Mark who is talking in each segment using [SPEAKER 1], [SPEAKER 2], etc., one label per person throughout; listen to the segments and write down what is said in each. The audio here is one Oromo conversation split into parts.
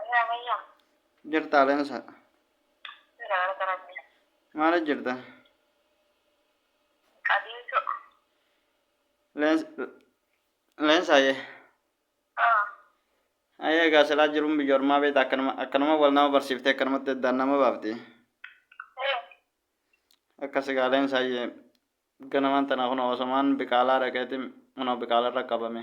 [SPEAKER 1] Ayaa mayyam. Jirtaa
[SPEAKER 2] leensa. Jira
[SPEAKER 1] galata rabbi. Maala jirta?
[SPEAKER 2] Qabiisu. Leens- Leensa ayee. Ah. Ayee egaa silaa jiruun biyya ormaa beekta akkanuma akkanuma wal nama barsiiftee akkanumatti addaan nama baafti. Eh. Akkas egaa leensa ayee ganamaan tana kun osomaan biqaalaa dhaqeeti kunoo biqaalarra qabame.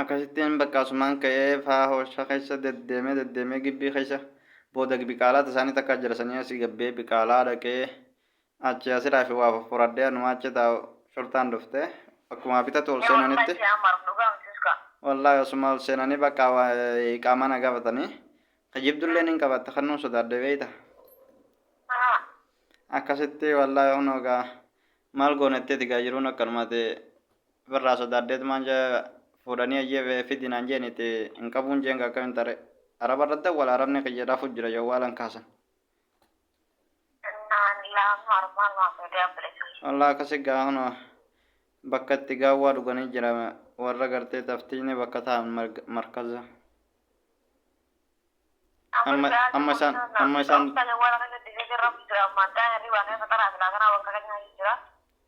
[SPEAKER 2] Akkasittiin bakka asumaan ka'ee faa hoosha keessa deddeemee deddeemee gibbii keessa booda biqaalaa tasaanii takka jarasanii asii gabbee biqaalaa dhaqee achi asiraa fi waa fuffuradhee anumaa achi taa'u shurtaan dhufte akkuma bitatu ol seenanitti wallaahi asuma ol seenanii bakka iqaamaa na gaafatanii kijibdullee nin qabatte kannuun sodaadhe beeyta akkasitti wallaahi hunoogaa maal goonetteeti gaa jiruun akkanumaati Ofirraa sodaadheet maan jee fuudhanii ayyee fidi naan jeen itti hin qabuun jeen gaa akkamiin taree. Arabarra dawwala arabni kiyya rafuu jira jawwaala hin kaasan. Naan laam harmaan waan miidiyaan bilisuu. Wallah akkasi gaa kunoo bakka itti gaawwaa dhuganii jira warra gartee taftiini bakka ta'an markaza. Amma amma isaan amma isaan. Kan warra kan itti jirra jira ammaan ta'an hirribaan kan fataraa silaa kanaa bakka kan nyaachuu jira.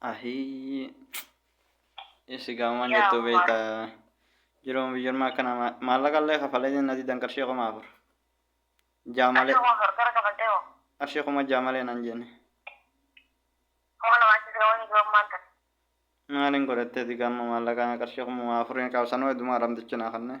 [SPEAKER 2] Ahii. Isi gaamaan Yaa jettuu Allah. beektaa. Jiruun biyyummaa akkana ma- maallaqa illee kafalee jenna didan qarshii kuma afur. Jaamalee Achi ofar gara kafaltee hoo. qarshii kuma jaamalee nan jenne. Kuma lama achi sira wayii jiruun maal tahe. Maaliin godhattee digaamma maallaqaa qarshii kuma afuriin qabsanoo heddumaa ramtichi naa kannee.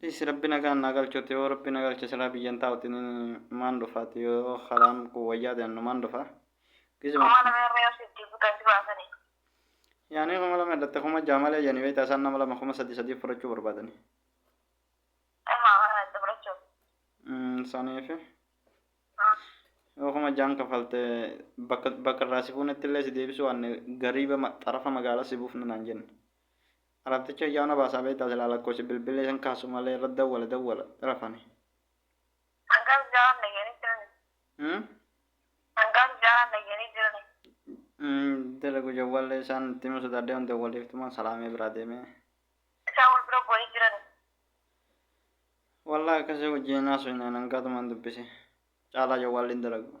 [SPEAKER 2] Dhiisi rabbi nagaan naa galchuuti yoo rabbi na galche silaa biyyan taa'uti ni maan dhufaati yoo karaan kun wayyaa ta'e numaan dhufa. Gizuma Kuma lama irra yoo sitti butan si baasanii. yaanii kuma lama hidhatte kuma ja'a malee jedhanii beektaa isaan nama lama kuma sadii sadii fudhachuu barbaadani. Amma mana itti fudhachuuf. Mm, Saniifi Mm. yoo kuma ja'an kafalte bakka bakka irraa si fuunetti illee si deebisuu waanne gariiba ma- xarafa magaalaa si buufna naan jenne. Araddicha ijaa na baasaa beektaa silaa lakkoofsi bilbillee san kaasu malee irra dawwala dawwala rafani. Hangaa sijaaraan dhayyanii jirani. Hmm? Hangaa sijaaraan dhayyanii jirani. Hmm, dalagu jawwaallee isaan itti himuu sodaadhee waan dawwaleeftumaan salaamee biraa deemee. Isaan wal bira bu'anii jirani. Wallahi akkasii wajjin hin haasofne ani hangaatumaan dubbise. Caalaa jawwaalli hin dalagu.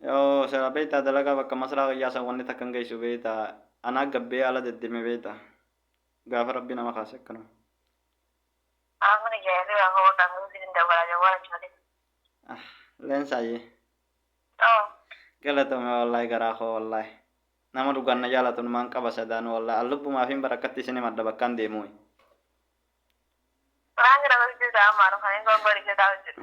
[SPEAKER 2] Yoo sera beektaa dalagaa bakka masraa kiyyaa san wanni takkan geessu beekta anaa gabbee ala deddeme beekta gaafa rabbii nama kaase akkanuma. Amana jaayirri
[SPEAKER 1] waa hoo kan guutii dinda wala jawwala chale. Ah
[SPEAKER 2] leensaayye.
[SPEAKER 1] Oh. Galatoomi
[SPEAKER 2] wallahi garaa koo wallahi. Nama dhugaan na jaalatu numaan qaba sadaanu wallahi an lubbumaafiin bara akkatti isin himadha bakkaan deemuuyi. Waan
[SPEAKER 1] kana gochuusaa ammaa dhufanii gongori jetaa hojjedhu.